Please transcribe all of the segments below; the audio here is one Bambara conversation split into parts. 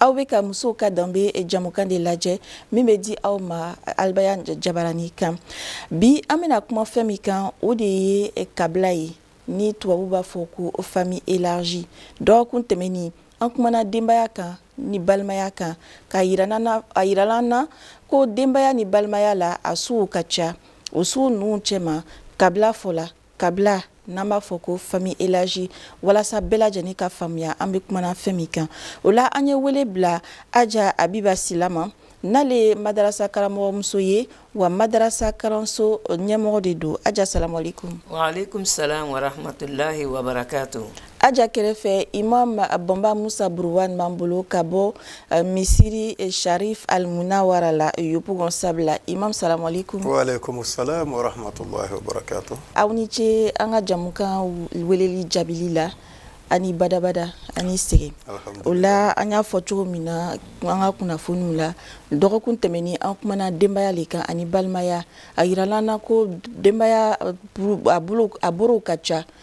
aw bɛ ka musow ka danbe jamukan de lajɛ min bɛ di aw ma albayan jabarani kan bi an bɛna kuma fɛn min kan o de ye kabila ye ni tubabu b'a fɔ ko famille élargie dɔgɔkun tɛmɛnen an kumana denbaya kan ni balimaya kan k'a yirala an na ko denbaya ni balimaya la a suw ka ca o suw ninnu cɛma kabila fɔla kabila n'an b'a fɔ ko famille élargie walasa bɛɛ lajɛlen ka faamuya an bɛ kumana fɛn min kan o la an ye wele bila aja abiba sila ma n'ale ye madarasa karamɔgɔmuso ye wa madarasa kalanso ɲɛmɔgɔ de don aja assalamu alaikum waalaikum salam warahmatulahi wabarakatu aja kɛrɛfɛ imam bɔnba musa buruwan b'an bolo ka bɔ eh, misiri eh, sharif almunawara la yopougon sable imam salamu alaikum waalaikum salam warahmatullahi wabarakatu aw ni ce an ka jamukan weleli jaabili la a ni badabada a ni sɛgɛn o la an y'a fɔ cogo min na an ka kunnafoniw la dɔgɔkun tɛmɛnin an kumana denbaya le kan ani balimaya a yirala an na ko denbaya a borow ka ca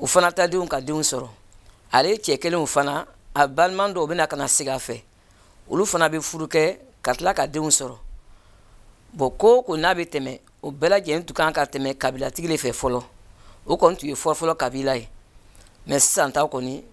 o fana ta denw ka denw sɔrɔ ale cɛ kelenw fana a balima dɔw bɛ na ka na sigi a fɛ olu fana bɛ furu kɛ ka tila ka denw sɔrɔ bon ko o ko n'a bɛ tɛmɛ o bɛɛ lajɛlen tun kan ka tɛmɛ kabilatigi de fɛ fɔlɔ o kɔni tun ye fɔlɔfɔlɔ kabila ye mais sisan ta kɔni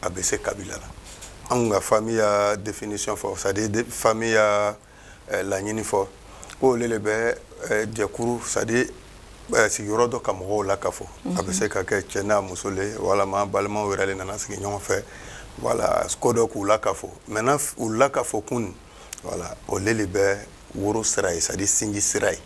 a bɛ se kabila la an ka famille ya définition fɔ c'est à dire famille ya eh, laɲini fɔ ko o le le bɛ eh, jɛkuru c'est à dire eh, sigiyɔrɔ dɔ ka mɔgɔw lakafo a bɛ se ka kɛ cɛ n'a muso le walama balima wɛrɛ le nana sigi ɲɔgɔn fɛ voilà ko dɔ k'u lakafo maintenant u lakafo kun voilà o le le bɛ woro sira ye c'est à dire sinji sira ye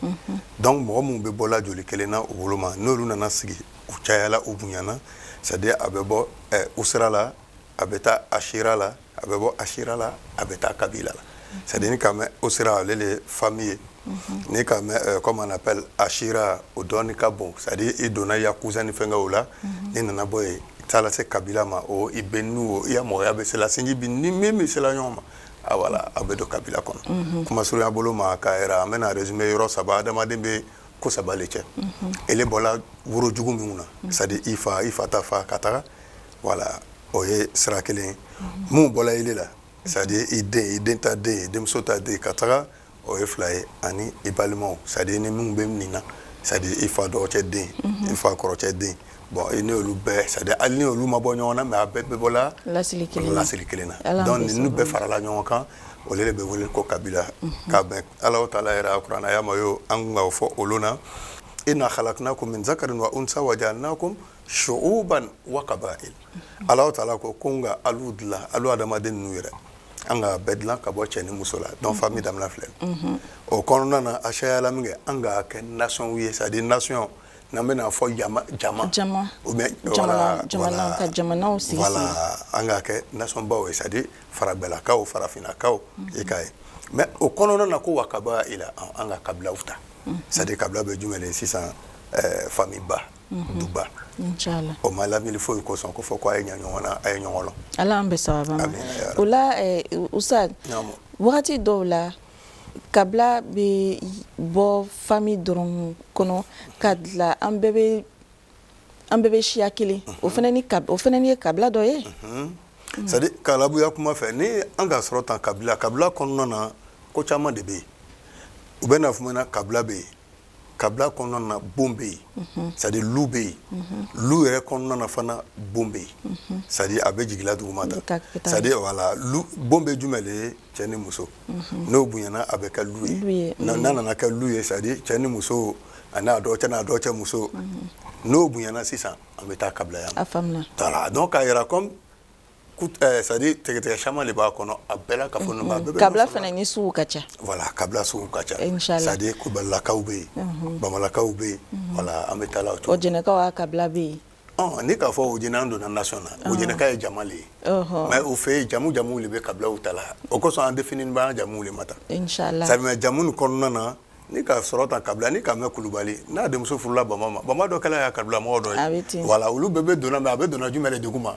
donc mɔgɔ minnu bɛ bɔla joli kelen na o bolo ma n'olu nana sigi u cayala u bonyana c'est à dire a bɛ bɔ eh, usira la a bɛ taa ashira la a bɛ bɔ ashira la a bɛ taa kabila la c'est à dire n'i k'a mɛn usira ale le famille ye mhm. n'i k'a mɛn eh, comme on appelle ashira o dɔɔni ka bon c'est à dire i donna i ya cousin ni fɛnkɛ o la mhm. n'i nana bɔ yen taa lase kabila ma o i bɛ n'u o i ya mɔgɔya bɛ sela sinji b'i ni min bɛ sela ɲɔgɔn ma ah voilà a bɛ don kabila kɔnɔ mhm. kuma surunya bolo ma ka yɛrɛ an bɛn'a résumer yɔrɔ saba adamaden bɛ ko saba le cɛ ele bɔla woro jugu minnu na c'est à dire i fa i fa ta fa ka taga voilà o ye sira kelen minnu bɔla ele la c'est à dire i den i den ta den i denmuso ta den ka taga o ye fila ye ani i balimaw c'est à dire ni minnu bɛ nin na c'est à dire i fa dɔgɔcɛ den i fa kɔrɔcɛ den bon i n'olu bɛɛ c'est à dire hali ni olu ma bɔ ɲɔgɔn na mais a bɛɛ bɛ bɔla lasili kelen na lasili kelen na donc ninnu bɛɛ farala ɲɔgɔn kan o de bɛ wele ko kabila mhm. ka bɛn alahu taala yɛrɛ a kurana aya ma yo an kun ka o fɔ o lon na inna khalaqnakum min zakarin wa unsa wa ja'alnakum shu'uban wa qaba'il mhm. alahu taala ko ko n ka alu dilan alu adamaden ninnu yɛrɛ an ka bɛɛ dilan ka bɔ cɛ ni muso la donc famille damina filɛ o kɔnɔna na a cayala min kɛ an ka kɛ nation ye c'est à dire nation n'an bɛna fɔ jama jama jama ou bien jamana jamana ka jamanaw sigi voilà an ka kɛ nation baw ye c'est à dire faragbɛlakaw farafinakaw mhm. i ka ye mais o kɔnɔna na ko wa qaba'ila an ka kabilaw ta mhm. c'est à dire kabila bɛ jumɛn de sisan euh, famille ba mhm. duba inchallah o ma lamini foyi kosɔn ko fɔ ko a ye ɲa ɲɔgɔn na a ye ɲɔgɔn lɔn ala an bɛ sababa ma o la eh, usa wagati dɔw la kabila bɛ bɔ famille dɔrɔn kɔnɔ ka dilan an bɛɛ bɛ an bɛɛ bɛ siya kelen o fana ni o fana ni ye kabila dɔ ye c'est à dire larabuya kuma fɛ ni an ka sɔrɔ tan kabila kabila kɔnɔna na ko caman de bɛ yen u bɛ na fɔ na kabila bɛ yen kabila kɔnɔna na bon bɛ yen mhm. c'est à dire lu bɛ yen mhm. lu yɛrɛ kɔnɔna na fana bon bɛ yen mhm. c'est à dire a bɛ jigila duguma ta c'est à dire voilà lu bon bɛ jumɛn de ye cɛ ni muso n'o bonyana a bɛ kɛ lu ye n'a nana kɛ lu ye c'est à dire cɛ ni muso a n'a dɔgɔcɛ n'a dɔgɔcɛ muso n'o bonyana sisan an bɛ taa kabila yan a faamuna voilà donc k'a yira comme Eh, c'est à dire tigɛtigɛ caman de b'a kɔnɔ a bɛɛ la ka fɔ ninnu a bɛɛ bɛ kabila fana ni sugu ka ca voilà kabila sugu ka ca c'est à dire kubalakaw bɛ yen mhm. bamalakaw bɛ yen mhm. voilà an bɛ taa la o cogo ɔjɛnɛkaw ka kabila bɛ yen ɔn n'i k'a fɔ ɔjɛnɛ an donna nation na ɔjɛnɛka ye jama le ye mais u fɛ yen jamu jamuw de bɛ kabilaw ta la o kosɔn an définini b'an jamuw de ma ta sabula jamu nin kɔnɔna na n'i ka sɔrɔ tan kabila n'i ka mɛn kulubali n'a denmuso furula bama ma bama dɔ kɛla y'a kabila mɔgɔ dɔ ye voilà olu bɛɛ bɛ donna mais a bɛ donna jumɛn de duguma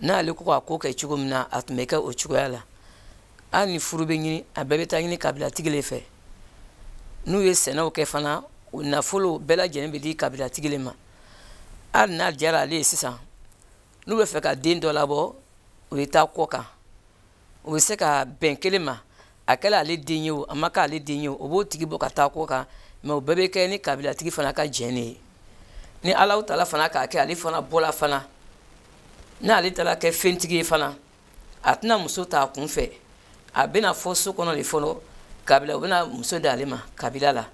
n'ale ko k'a ko kɛ cogo min na a tun bɛ kɛ o cogoya la hali ni furu bɛ ɲini a bɛɛ bɛ taa ɲini kabilatigi de fɛ n'u ye sɛnɛw kɛ fana o nafolo bɛɛ lajɛlen bɛ di kabilatigi de ma hali n'a diyara ale ye sisan n'u bɛ fɛ ka den dɔ labɔ u bɛ taa kɔ kan o bɛ se ka bɛn kelen ma a kɛla ale den ye o a ma kɛ ale den ye o o b'o tigi bɔ ka taa kɔ kan mais o bɛɛ bɛ kɛ ni kabilatigi fana ka jɛn de ye ni alahu taala fana k'a kɛ ale fana bɔla fana n'ale taara kɛ fɛntigi ye fana a tɛna muso ta a kun fɛ a bɛna fɔ so kɔnɔ de fɔlɔ kabila u bɛna muso di ale ma kabila la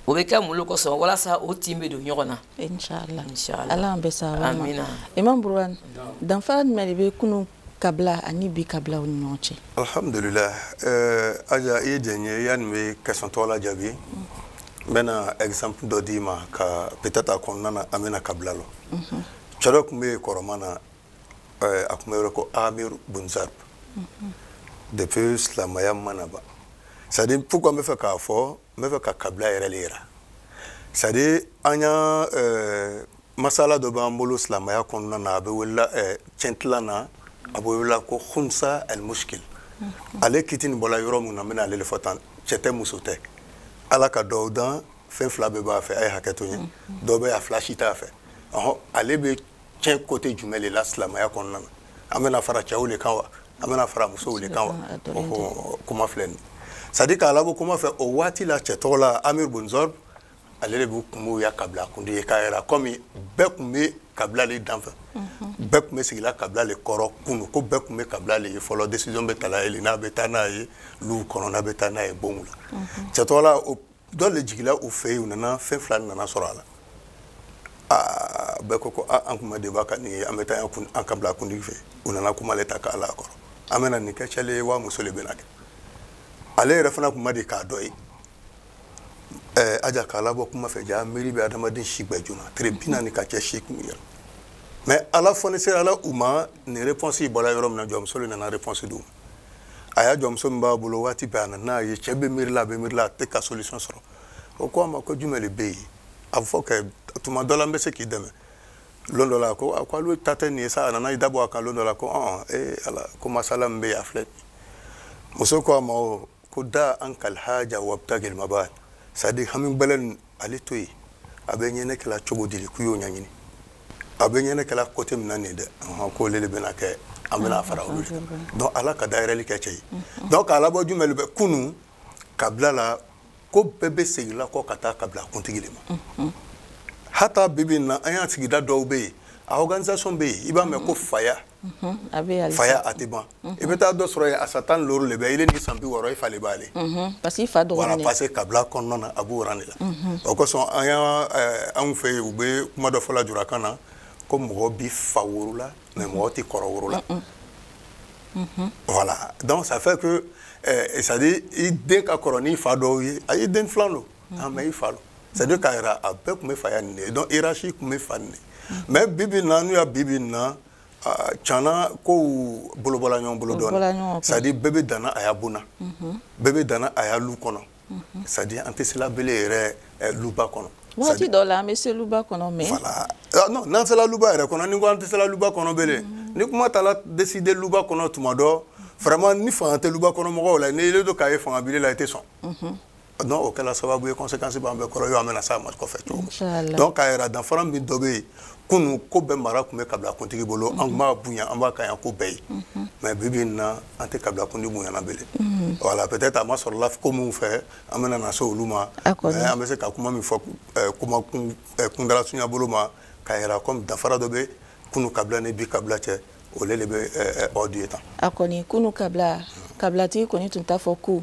o bɛ kɛ mun de kosɔn walasa o tin bɛ don ɲɔgɔn na inshallah inshallah ala an bɛ sababa amina imam burhan danfara jumɛn de bɛ kunun kabila ani bi kabilaw ni ɲɔgɔn cɛ alhamdulillah eh, aja i ye diɲɛ n ye yanni n bɛ question tɔ la jaabi n bɛna exemple dɔ d'i ma ka peut-être a kɔnɔna na an bɛna kabila lɔn mhm. cɛ dɔ tun bɛ yen kɔrɔma na eh, a tun bɛ wele ko amir bun zarb mhm. depuis silamaya ma na ban c'est à dire pourquoi n bɛ fɛ k'a fɔ n bɛ fɛ ka kabila yɛrɛ le yira c'est à dire an y'a eh, masala dɔ b'an bolo silamaya kɔnɔna na a bɛ welela eh, cɛntila na a bɛ welela ko khunsa al mushkil mm-hmm. ale kiti nin bɔla yɔrɔ min na n bɛna ale le fɔ tan cɛ tɛ muso tɛ ala ka dɔw dan fɛn fila bɛɛ b'a fɛ a ye hakɛ to n ye mm-hmm. dɔw bɛ a fila si t'a fɛ ɔhɔ ale bɛ cɛn côté jumɛn de la silamɛya kɔnɔna na an bɛna fara cɛw de kan wa an bɛna fara musow de kan wa kuma filɛ nin c'est à dire k'a labɔ kuma fɛ o waati la cɛ tɔgɔ la amir bun zarb ale de b'u kun b'u ya kabila kuntigi ye k'a yira kɔmi bɛɛ kun bɛ kabila le dafɛ mhm. bɛɛ kun bɛ sigila kabila le kɔrɔ kunu ko bɛɛ kun bɛ kabila le ye fɔlɔ décision bɛ tala yen n'a bɛ taa n'a ye luw kɔnɔ n'a bɛ taa n'a ye bonw la mhm. cɛ tɔgɔ la o dɔ le jigila u fɛ yen u nana fɛn fila nana sɔrɔ a la aa bɛɛ ko ko a an kun ma de ban ka nin ye an bɛ taa an kabila kuntigi fɛ u nana kuma le ta k'a la kɔrɔ an bɛna nin kɛ cɛ le ye wa muso le bɛna kɛ ale yɛrɛ fana kun ma de k'a dɔ ye ɛɛ aja k'a labɔ kuma fɛ ja miiri bɛ adamaden si gbɛ joona tile bi naani ka cɛ si kun yɛrɛ mais ala fonisireyala u ma nin réponse bɔla yɔrɔ min na jɔnmuso le nana réponse d'u ma a ya jɔnmuso min b'a bolo waati bɛɛ a nan'a ye cɛ bɛ miirila a bɛ miirila a tɛ ka solution sɔrɔ o ko a ma ko jumɛn de bɛ yen a fɔ kɛ tuma dɔ la n bɛ se k'i dɛmɛ lon dɔ la ko a ko alu ta tɛ nin ye sa a nana i dabɔ a kan lon dɔ la ko ɔn ee ala ko masala min bɛ yen a filɛ muso ko a ma o ko da ankal haja wabtagil mabal c'est à dire hami bɛlɛn ale to yen a bɛ ɲɛnɛ kɛla cogo di k'u y'o ɲɛɲini a bɛ ɲɛnɛ kɛla côté min na nin dɛ ko olu de bɛna kɛ an bɛna fara olu kan donc ala ka dayɛlɛli kɛ cɛ ye donc k'a labɔ jumɛn de bɛ kunu kabila la ko bɛɛ bɛ segila kɔ ka taa kabila kuntigi de ma hata bi bi na an ya sigida dɔw bɛ yen a organisation bɛ yen i b'a mɛn ko faya faya a tɛ ban i bɛ taa dɔ sɔrɔ yen a san tan looru de bɛ ile ni san bi wɔɔrɔ i fa le b'ale parce que i fa dɔgɔnin parce que kabila kɔnɔna na a b'o rang de la o kosɔn an y'a anw fɛ yen u bɛ kuma dɔ fɔla julakan na ko mɔgɔ b'i fa wolola mais mɔgɔ t'i kɔrɔ wolola voilà donc ça fait que c'est à dire i den ka kɔrɔ n'i fa dɔw ye a y'i den filan don a mais i fa don c'est à dire k'a yira a bɛɛ tun bɛ faya nin de ye donc hiérarchie tun bɛ fa nin de mais bi bi na n'u y'a bi bi na cana kow bolo bɔla ɲɔgɔn bolo dɔɔnin c'est à dire bɛɛ bɛ danna a ya bon na bɛɛ bɛ danna a ya lu kɔnɔ c'est à dire an tɛ sela bele yɛrɛ eh, luba kɔnɔ waati dɔ la an bɛ se luba kɔnɔ mais voilà ah, non n'an sela luba yɛrɛ kɔnɔ ni ko an tɛ sela luba kɔnɔ bele mhm. ni kuma taara décider luba kɔnɔ tuma dɔ vraiment ni fanga tɛ luba kɔnɔ mɔgɔw la ni e le don k'a ye fanga bila e la i tɛ sɔn non o kɛla sababu ye conséquence b'an bɛɛ kɔrɔ yɔrɔ an bɛna s'a ma kɔfɛ cogo min donc k'a yira danfara min dɔ bɛ yen kunu ko bɛɛ mara tun bɛ kabila kuntigi bolo an tun b'a bonya an b'a kaɲa ko bɛɛ ye mhm. mais bi bi in na an tɛ kabila kuntigi bonyana bele mhm. voilà peut être a masɔrɔla ko minnu fɛ an bɛna na se olu ma mais an bɛ se ka kuma min fɔ euh, kuma euh, kuntaala surunya bolo ma k'a yira comme danfara dɔ bɛ kunu kabila ni bi kabila cɛ o le de bɛ ordre ye tan a kɔni kunu kabila kabilatigi kɔni tun t'a fɔ ko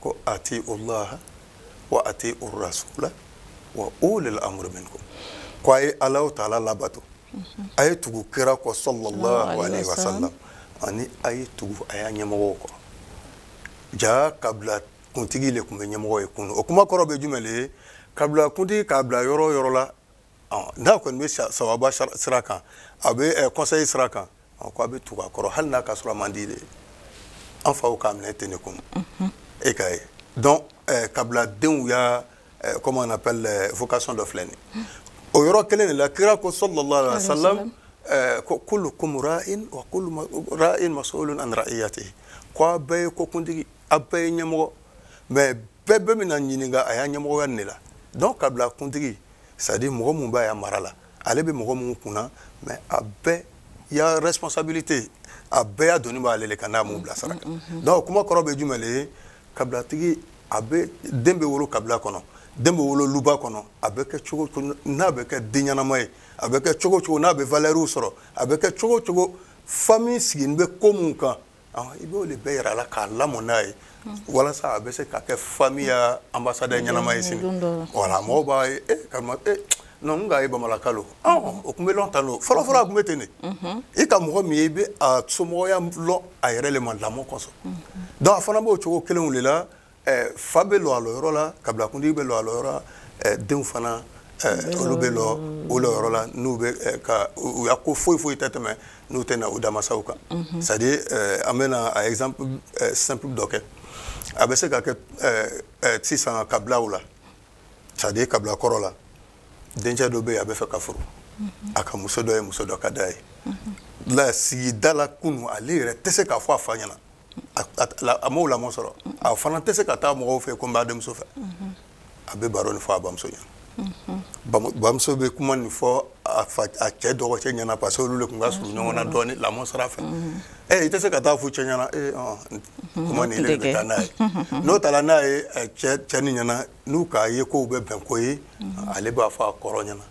ko atiu Allah wa atiu rasula wa ulil amri minkum ko a ye Allahu taala labato a ye tugu kira kɔ sallallahu alaihi wasallam ani a ye tugu a ya ɲɛmɔgɔw kɔ jaa kabila kuntigi le tun bɛ ɲɛmɔgɔ ye kunu o kuma kɔrɔ bɛ jumɛn le ye kabila kuntigi k'a bila yɔrɔ o yɔrɔ la n'a kɔni bɛ sawaba sira kan a bɛ conseil sira kan ko a bɛ tugu a kɔrɔ hali n'a ka sɔrɔ a man di de an faw k'a minɛ ten de kun e k'a ye donc kabila denw ya comment on appelle vocation dɔ filɛ nin o yɔrɔ kelen de la kira ko sallallahu alaihi wasallam kullukum rain wa kullu rain masulun an raiyatihi ko a bɛɛ ye ko kuntigi a bɛɛ ye ɲɛmɔgɔ mais bɛɛ bɛna ɲininka a ya ɲɛmɔgɔya ne la donc kabila kuntigi c'est à dire mɔgɔ minnu b'a ya mara la ale bɛ mɔgɔ minnu kunna mais a bɛɛ ya responsabilité a bɛɛ ya doni b'ale le kan n'a m'u bila sira kan mm, mm, mm. donc kuma kɔrɔ bɛ jumɛn le ye kabilatigi a bɛ den bɛ wolo kabila kɔnɔ den bɛ wolo luba kɔnɔ a bɛ kɛ cogo cogo n'a bɛ kɛ den ɲɛnama ye a bɛ kɛ cogo cogo n'a bɛ valeurs sɔrɔ a bɛ kɛ cogo cogo famille sigilen bɛ ko minnu kan i b'o de bɛɛ yira a la k'a lamɔ n'a ye walasa a bɛ se ka kɛ famille ya ambassadeur ɲɛnama ye sini wala mɔgɔw b'a ye e karima e non n k'a ye bamalaka lo o tun bɛ lɔn tan don fɔlɔfɔlɔ a tun bɛ ten de i ka mɔgɔ min ye i bɛ a somɔgɔya lɔn a yɛrɛ le ma lamɔ kosɔn donc a fana b'o cogo kelenw de la eh, fa bɛ lɔ a lɔyɔrɔ la kabila kuntigi bɛ lɔ a lɔyɔrɔ la eh, denw fana eh, olu bɛ lɔ o lɔyɔrɔ la n'u bɛ eh, ka u ya ko foyi foyi tɛ tɛmɛ n'u tɛ na u dama sago kan mhm. c'est à dire eh, an bɛna un exemple eh, simple dɔ kɛ a bɛ se ka kɛ eh, eh, sisan kabilaw la c'est à dire kabila kɔrɔ la dencɛ dɔ bɛ yen a bɛ fɛ ka furu mhm. a ka muso dɔ ye muso dɔ ka d'a ye mhm. la sigida la kunu ale yɛrɛ tɛ se k'a fɔ a fa ɲɛna a m'o lamɔ sɔrɔ a fana tɛ se ka taa mɔgɔw fɛ ko n b'a denmuso fɛ a bɛ baro nin fɔ a bamuso ɲɛna bamuso bɛ kuma nin fɔ a cɛ dɔgɔcɛ ɲɛna parce que olu de tun ka surun ɲɔgɔn na dɔɔni lamɔ sira fɛ ɛ i tɛ se ka taa a fɔ cɛ ɲɛna ee kuma nin de bɛ taa n'a ye n'o taara n'a ye cɛ nin ɲɛna n'u k'a ye k'o bɛ bɛn ko ye ale b'a fɔ a kɔrɔ ɲɛna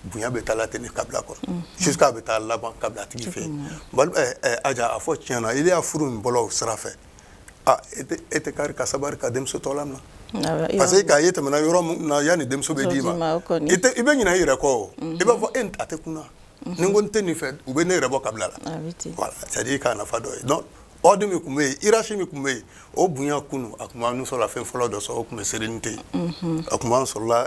bonya bɛ taa la ten ni kabila kɔnɔ mhm. jusqu'à a bɛ taa laban kabila tigi fɛ yen eh, eh, aja a fɔ tiɲɛ na i y'a furu n bolo sira fɛ a ah, e tɛ e tɛ kari ka sabari ka denmuso tɔ lamina ah, parce que k'a ye tɛmɛna yɔrɔ min na yanni denmuso bɛ d'i ma i tɛ i bɛ ɲinɛ i yɛrɛ kɔ o mhm. i b'a fɔ e a tɛ kun na mhm. ni n ko n tɛ nin fɛ u bɛ ne yɛrɛ bɔ kabila la ah, voilà c'est à dire k'a nafa dɔ ye donc ordre min tun bɛ yen hiérarchie min tun bɛ yen o bonya kunu a tun b'an sɔrɔla fɛn fɔlɔ dɔ sɔrɔ o tun bɛ sérénité ye a tun b'an sɔrɔla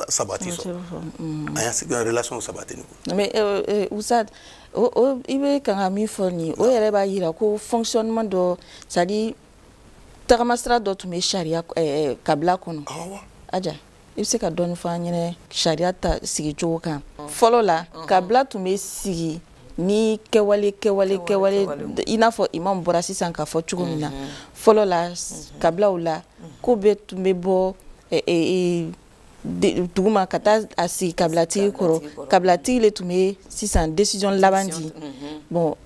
sabati sɔrɔ an y'a sigi relation sabati ni kun. mais euh, euh, oustaz o o i bɛ kan ka min fɔ nin o yɛrɛ b'a jira ko fonctionnement dɔ c'est à dire tagamasira dɔ tun bɛ sariya kabila kɔnɔ. awa. aja. i bɛ se ka dɔɔni fɔ an ɲɛna sariya ta sigicogo kan fɔlɔ la kabila tun bɛ sigi ni kɛwale kɛwale kɛwale i n'a fɔ imam bɔra sisan k'a fɔ cogo min na fɔlɔ la kabilaw la ko bɛɛ tun bɛ bɔ duguma ka taa a sigi kabilatigi kɔrɔ kabilatigi de tun bɛ sisan décision laban di bon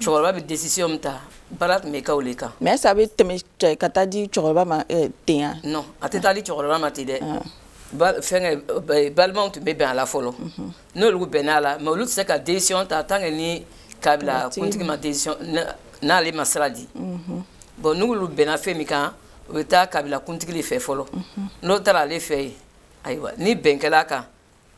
cɛkɔrɔba bɛ décision min ta baara tun bɛ kɛ o de kan. mais est ce que a bɛ tɛmɛ ka taa di cɛkɔrɔba ma eh, ten ya. non a tɛ taa di cɛkɔrɔba ma ten dɛ. Ah. ba fɛnkɛ balimaw tun bɛ bɛn a la fɔlɔ. Mhm. n'olu bɛnna a la mais olu tɛ se ka décision ta tant que ni kabila kuntigi ma décision n'ale ma sira di. Mhm. bon n'olu bɛnna fɛn min kan u bɛ taa kabila kuntigi de fɛ fɔlɔ. Mhm. n'o taara ale fɛ yen ayiwa ni bɛn kɛla a kan.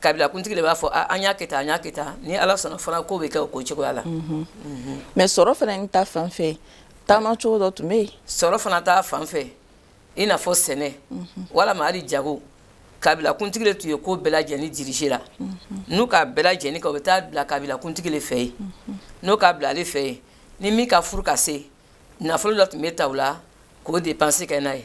kabila kuntigi de b'a fɔ an y'a kɛ tan an y'a kɛ tan ni ala sɔnna fana ko bɛ kɛ o ko cogoya la mhm. Mhm. mais sɔrɔ fana ni ta fan fɛ taama cogo dɔ tun bɛ yen sɔrɔ fana ta fan fɛ i n'a fɔ sɛnɛ mhm. walama hali jago kabila kuntigi de tun ye ko bɛɛ lajɛlen dirige la n'u k'a bɛɛ lajɛlen kɛ o bɛ taa bila kabila kuntigi de fɛ yen n'o k'a bila ale fɛ yen ni min ka furu ka se nafolo dɔ tun bɛ ta o la k'o dépense kɛ n'a ye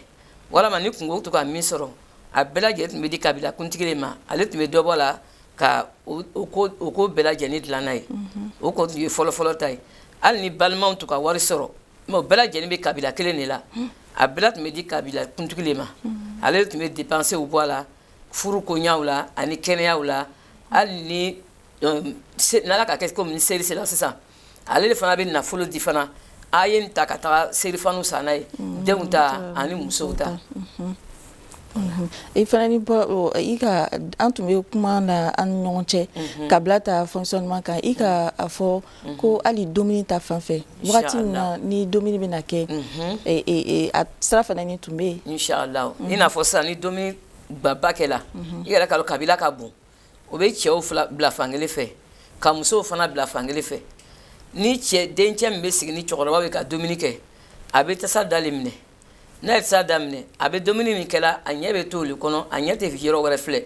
walama ni kungo tun ka min sɔrɔ a bɛɛ lajɛlen tun bɛ di kabila kuntigi de ma ale tun bɛ dɔ bɔ a la ka o ko bɛɛ lajɛlen dilan n'a ye mhm. o ko tun ye fɔlɔfɔlɔ ta ye hali ni balimaw tun ka wari sɔrɔ mais o bɛɛ lajɛlen bɛ kabila kelen de la mhm. a bɛɛ tun bɛ di kabila kuntigi de ma mhm. ale tun bɛ dépensew bɔ a la furu koɲaw la ani kɛnɛyaw la hali ni donc n'ala ka kɛ komi ni seri sera sisan ale de fana bɛ nafolo di fana a ye nin ta ka taga serifaniw san n'a ye mm, denw ta ani musow ta mm-hmm. Mm-hmm. i fana ni bɔ i ka an tun bɛ kuma na an ni ɲɔgɔn cɛ mm-hmm. kabila ta fonctionnement kan i ka a fɔ ko hali dumuni ta fan fɛ wagati min na ni dumuni bɛna kɛ e, e, e, a sira fana ni tun bɛ yen. inshallah i n'a fɔ sisan ni dumuni gbaba kɛra i yɛrɛ k'a dɔn kabila ka bon. o bɛ cɛw bila fankelen fɛ ka musow fana bila fankelen fɛ ni cɛ dencɛ min bɛ sigi ni cɛkɔrɔbaw ye ka dumuni kɛ a bɛ tasa da le minɛ n'a ye tasa da minɛ a bɛ dumuni min kɛla a ɲɛ bɛ to olu kɔnɔ a ɲɛ tɛ yɔrɔ wɛrɛ filɛ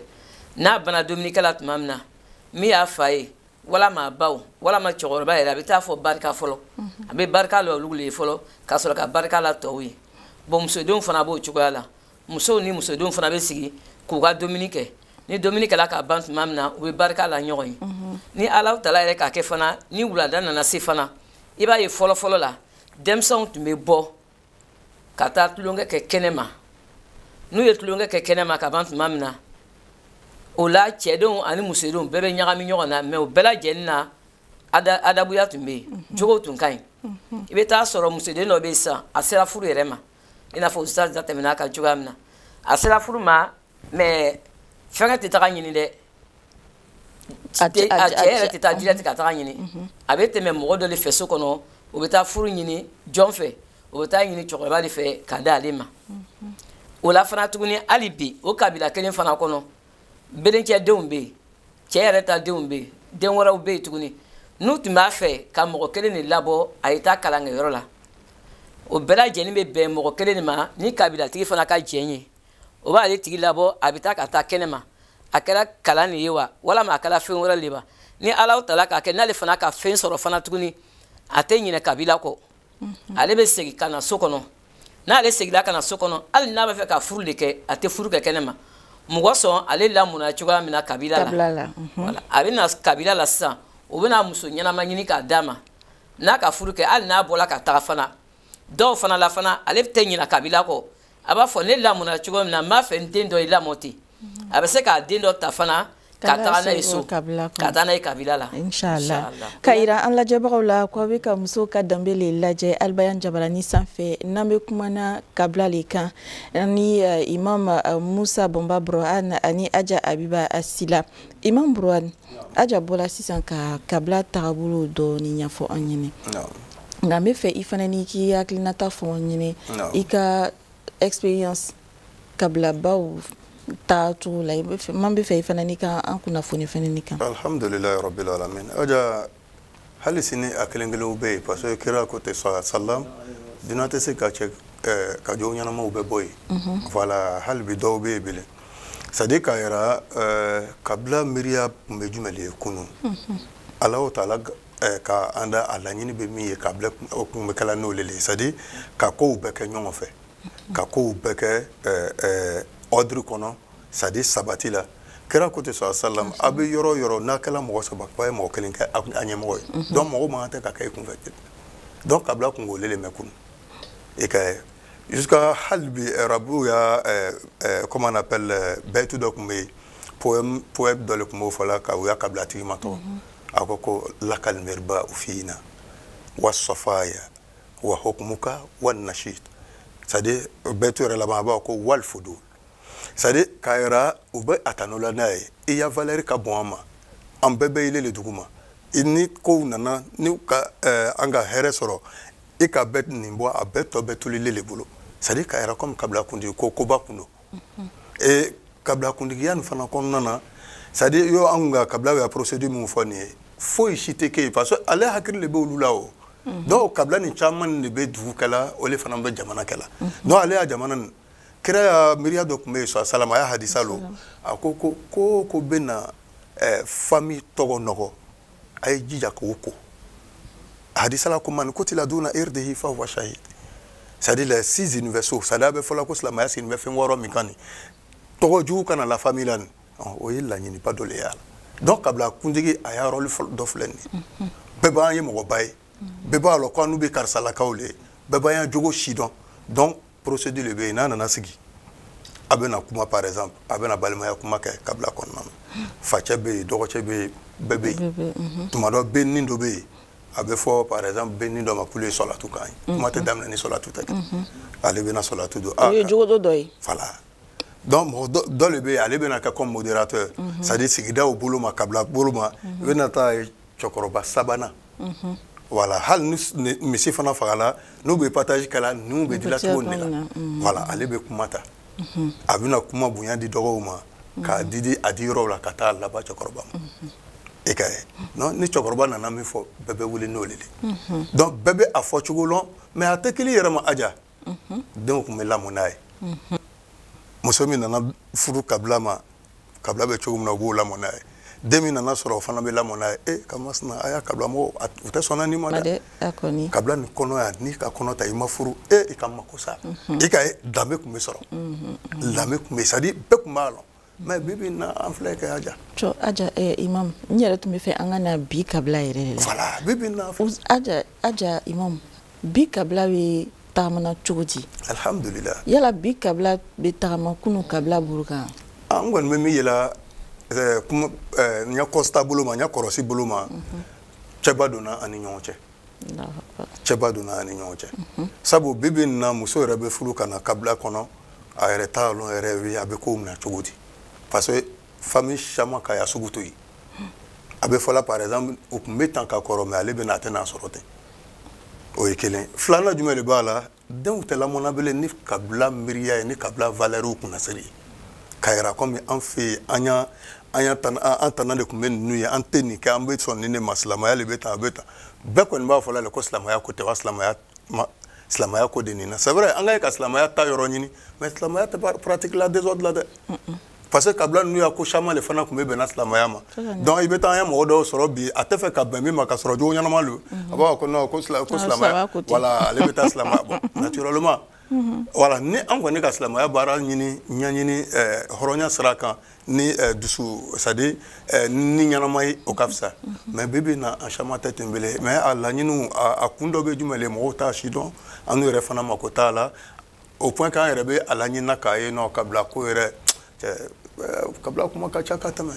n'a bana dumunikɛ la tuma min na min y'a fa ye walama a baw walama cɛkɔrɔba yɛrɛ a bɛ taa fɔ barika fɔlɔ a bɛ barika la olu le ye fɔlɔ ka sɔrɔ ka barika la tɔw ye bon musodenw fana b'o cogoya la musow ni musodenw fana bɛ sigi k'u ka dumuni kɛ ni dumuni kɛla ka ban tuma min na u bɛ barika la ɲɔgɔn ye ni ala tala yɛrɛ k'a kɛ fana ni wulada nana se fana i b'a ye fɔlɔfɔlɔ la denmisɛnw tun bɛ bɔ ka taa tulonkɛ kɛ kɛnɛ ma n'u ye tulonkɛ kɛ kɛnɛ ma ka ban tuma min na o la cɛdenw ani musodenw bɛɛ bɛ ɲagami ɲɔgɔn na mais o bɛɛ lajɛlen na adabuya tun bɛ yen jogow tun ka ɲi i bɛ taa sɔrɔ musoden dɔ bɛ yen sisan a sera furu yɛrɛ ma i n'a fɔ ustaz da tɛmɛna kan cogoya min na a sera furu ma mais fɛnkɛ tɛ taga ɲini dɛ a cɛ yɛrɛ tɛ taa direct ka taga ɲini mhm. a bɛ tɛmɛ mɔgɔ dɔ de fɛ so kɔnɔ o bɛ taa furu ɲini jɔn fɛ o bɛ taa ɲini cɛkɔrɔba de fɛ ka da ale ma mhm. o la fana tuguni hali bi o kabila kelen fana kɔnɔ belencɛ denw bɛ yen cɛ yɛrɛ ta denw bɛ yen den wɛrɛw bɛ yen tuguni n'u tun b'a fɛ ka mɔgɔ kelen de labɔ a ye taa kalankɛyɔrɔ la o bɛɛ lajɛlen bɛ bɛn mɔgɔ kelen de ma ni kabilatigi fana ka jɛn ye o b'ale tigi labɔ a bɛ taa ka taa kɛnɛ ma a kɛra kalan de ye wa walama a kɛra fɛn wɛrɛ de wa ni ala tala k'a kɛ n'ale fana ka fɛn sɔrɔ fana tuguni a tɛ ɲinɛ kabila kɔ mhm. ale bɛ segin ka na so kɔnɔ n'ale seginna ka na so kɔnɔ hali n'a bɛ fɛ ka furu de kɛ a tɛ furu kɛ kɛnɛ ma mɔgɔ sɔn ale lamɔna cogoya min na kabila la mhm. a bɛ na kabila la sisan o bɛ na muso ɲɛnama ɲini k'a d'a ma n'a ka furu kɛ hali n'a bɔra ka taga fana dɔw fana la fana ale tɛ ɲina kabila kɔ a b'a fɔ ne lamɔna cogo min na n b'a fɛ n den dɔ ye lamɔ ten a bɛ se k'a den dɔ ta fana ka taga n'a ye so ka taa n'a ye kabila la inshallah ka yira an lajɛbagaw la ko a bɛ ka muso ka danbe le lajɛ albayan jabaranin sanfɛ n'an bɛ kumana kabila le kan ni eh, imam eh, musa bɔnba buruhan ani aja abiba sila imam buruhan aja bɔra sisan ka kabila tagabolo dɔɔni ɲɛfɔ an ɲɛna nka n bɛ fɛ i fana ni k'i hakilinata fɔ an ɲɛna i ka expérience kabila baw taa cogo la an b'a fɛ i fana n'i ka an kunnafoni fana nin kan alhamdulilayi rabbil alamin aja hali sini a kelen kelenw bɛ yen parce que kira ko tɛ sɔrɔ salam diina tɛ se ka cɛn eh, ka jɔn ɲɛnamaw bɛɛ bɔ yen voilà hali bi dɔw bɛ yen bilen c'est à dire k'a yira eh, kabila miiriya tun bɛ jumɛn de ye kunun Alahu taala eh, ka an da a laɲini bɛ min ye kabila tun bɛ kɛla n'o le le ye c'est à dire ka kow bɛɛ kɛ ɲɔgɔn fɛ ka kow bɛɛ kɛ ordre kɔnɔ c'est à dire sabati la kira ko tɛ sɔn asalam aw bɛ yɔrɔ yɔrɔ n'a kɛla mɔgɔ saba k'a ye mɔgɔ kelen kɛ a ɲɛmɔgɔ ye donc mɔgɔ man tɛ ka kɛ i kun fɛ donc kabila kun k'o lele mɛ kun et que jusqu'à hali bi arabuw ya comment on appelle bɛyitu dɔ tun bɛ yen poème poème dɔ le tun b'o fɔ la ka u ya kabilatigi matɔgɔ a ko ko lakal mirbau fiina wa safaya wa hukumuka wa nashit c'est à dire bɛyitu yɛrɛ laban a b'a ko wal fudul c'est à dire k'a yira u bɛ a tanula n'a ye i ya valeur ka bon an ma an bɛɛ bɛ ile le duguma ni kow nana ni ka eh, an ka hɛrɛ sɔrɔ i ka bɛɛ nin bɔ a bɛɛ tɔ bɛ to ile le bolo c'est à dire k'a yira comme kabila kuntigi ko koba kun don mhm. et kabila kuntigiya nin fana kɔnɔna na c'est à dire yo an kun ka kabila ya procédure min fɔ nin ye foyi si tɛ kɛ yen parce que ale hakili le bɛ olu la o mhm. donc kabila nin caman le bɛ dugu kɛla o le fana bɛ jamana kɛla mhm. donc ale ya jamana nin kira ya miiriya dɔ tun bɛ yen sɔ salam a ya hadisa lo a ko ko o ko bɛna famille tɔgɔ nɔgɔ a ye jija k'o ko hadisa la ko man kutila duna irdihi fahuwa shahid c'est à dire les six universaux c'est à dire a bɛ fɔla ko silamɛya sigilen bɛ fɛn wɔɔrɔ min kan nin tɔgɔ jugu kana la famille la nin o ye laɲiniba dɔ le y'a la donc kabila kuntigi a ya rôle dɔ filɛ nin ye bɛɛ b'an ye mɔgɔba ye bɛɛ b'a lɔn ko an n'u bɛ karisalakaw le ye bɛɛ b'an ya jogo sidɔn donc procédure le bɛ yen n'a nana sigi a bɛna kuma par exemple a bɛna balimaya kuma kɛ kabila kɔnɔna na facɛ bɛ yen dɔgɔcɛ bɛ yen bɛɛ bɛ yen tuma dɔ bɛnin dɔ bɛ yen a bɛ fɔ par exemple bɛnin dɔ ma k'olu ye sɔlatu kan ye kuma tɛ daminɛ ni sɔlatu tɛ kɛ ale bɛna sɔlatu don o ye jogo dɔ dɔ ye voilà donc mɔgɔ dɔ le bɛ yen ale bɛna kɛ comme modérateur c'est à dire sigidaw bolo ma kabila bolo ma i bɛna taa cɛkɔrɔba sabanan mhm. voilà hali ni misi fana fagala n'u bɛ partage kɛla ninw bɛ dila cogo nin de la mhm. voilà ale bɛ kuma ta mhm. a bɛna kuma bonya di dɔgɔw ma k'a di di a di yɔrɔw la ka taa laban cɛkɔrɔba ma i ka ye donc ni cɛkɔrɔba nana min fɔ bɛɛ bɛ wuli n'o le ye donc bɛɛ bɛ a fɔ cogo lɔn mais a tɛ kɛ i yɛrɛ ma aja denw tun bɛ lamɔ n'a ye muso min nana furu kabila ma kabila bɛ cogo min na u b'o lamɔ n'a ye den min nana sɔrɔ o fana bɛ lamɔ n'a ye e ka masina a y'a kabila mɔgɔw u tɛ sɔnna nin ma dɛ kabila nin kɔnɔ yan n'i ka kɔnɔ ta i ma furu e i ka mako sa i ka danbe tun bɛ sɔrɔ danbe tun bɛ c'est à dire bɛɛ tun b'a lɔn mais bi bi na an filɛ kɛ aja cɔ aja eh, imam n yɛrɛ tun bɛ fɛ an ka na bi kabila yɛrɛ de la voilà bi bi na aja aja imam bi kabila bɛ tagamana cogo di alhamdulilah yala bi kabila bɛ tagama kunu kabila buru kan an kɔni bɛ min yela eh, kuma eh, n ya constat bolo ma n ya kɔrɔsi bolo ma mhm. cɛba donna an ni ɲɔgɔn cɛ cɛba donna an ni ɲɔgɔn cɛ mhm. sabu bi bi na muso yɛrɛ bɛ furu ka na kabila kɔnɔ a yɛrɛ t'a lɔn yɛrɛ a bɛ kow minɛ cogo di parce que famille caman ka y'a sugu to yen mhm. a bɛ fɔla par exemple u tun bɛ tan ka kɔrɔ mais ale bɛ na a tɛna a sɔrɔ ten o ye kelen filanan jumɛn de b'a la denw tɛ lamɔna bele ni kabila miiriya ye ni kabila valeurs kunnasiri ye k'a yira comme an fɛ yen an ya an ya tan an tana de tun bɛ ninnu ye an tɛ nin kɛ an bɛ sɔn nin de ma silamɛya de bɛ tan a bɛ tan bɛɛ kɔni b'a fɔla ko silamɛya ko tɛ wa silamɛya ma silamɛya ko de nin na c'est vrai an ka ye ka silamɛya ta yɔrɔ ɲini mais silamɛya tɛ pratique la désordre la dɛ parce que kabila ninnu ya ko caman de fana tun bɛ bɛnna silamɛya ma donc i bɛ taa an ye mɔgɔ dɔw sɔrɔ bi a tɛ fɛ ka bɛn min ma k'a sɔrɔ jogo ɲɛnama don a b'a fɔ ko non ko silamɛya voilà ale bɛ taa silamɛya bon naturellement voilà ni an kɔni ka silamɛya baara ɲini ɲɛɲini eh, hɔrɔnya sira kan ni eh, dusu c'est à dire eh, ni ɲɛnama ye o ka fisa mais bi bi na an caman tɛ ten bele mais a laɲiniw a kun dɔ bɛ jumɛn le mɔgɔw t'a si dɔn ani u yɛrɛ fana mako t'a la au point k'an yɛrɛ bɛ a laɲinina k'a ye non kabila ko yɛrɛ kabila kuma ka ca ka tɛmɛ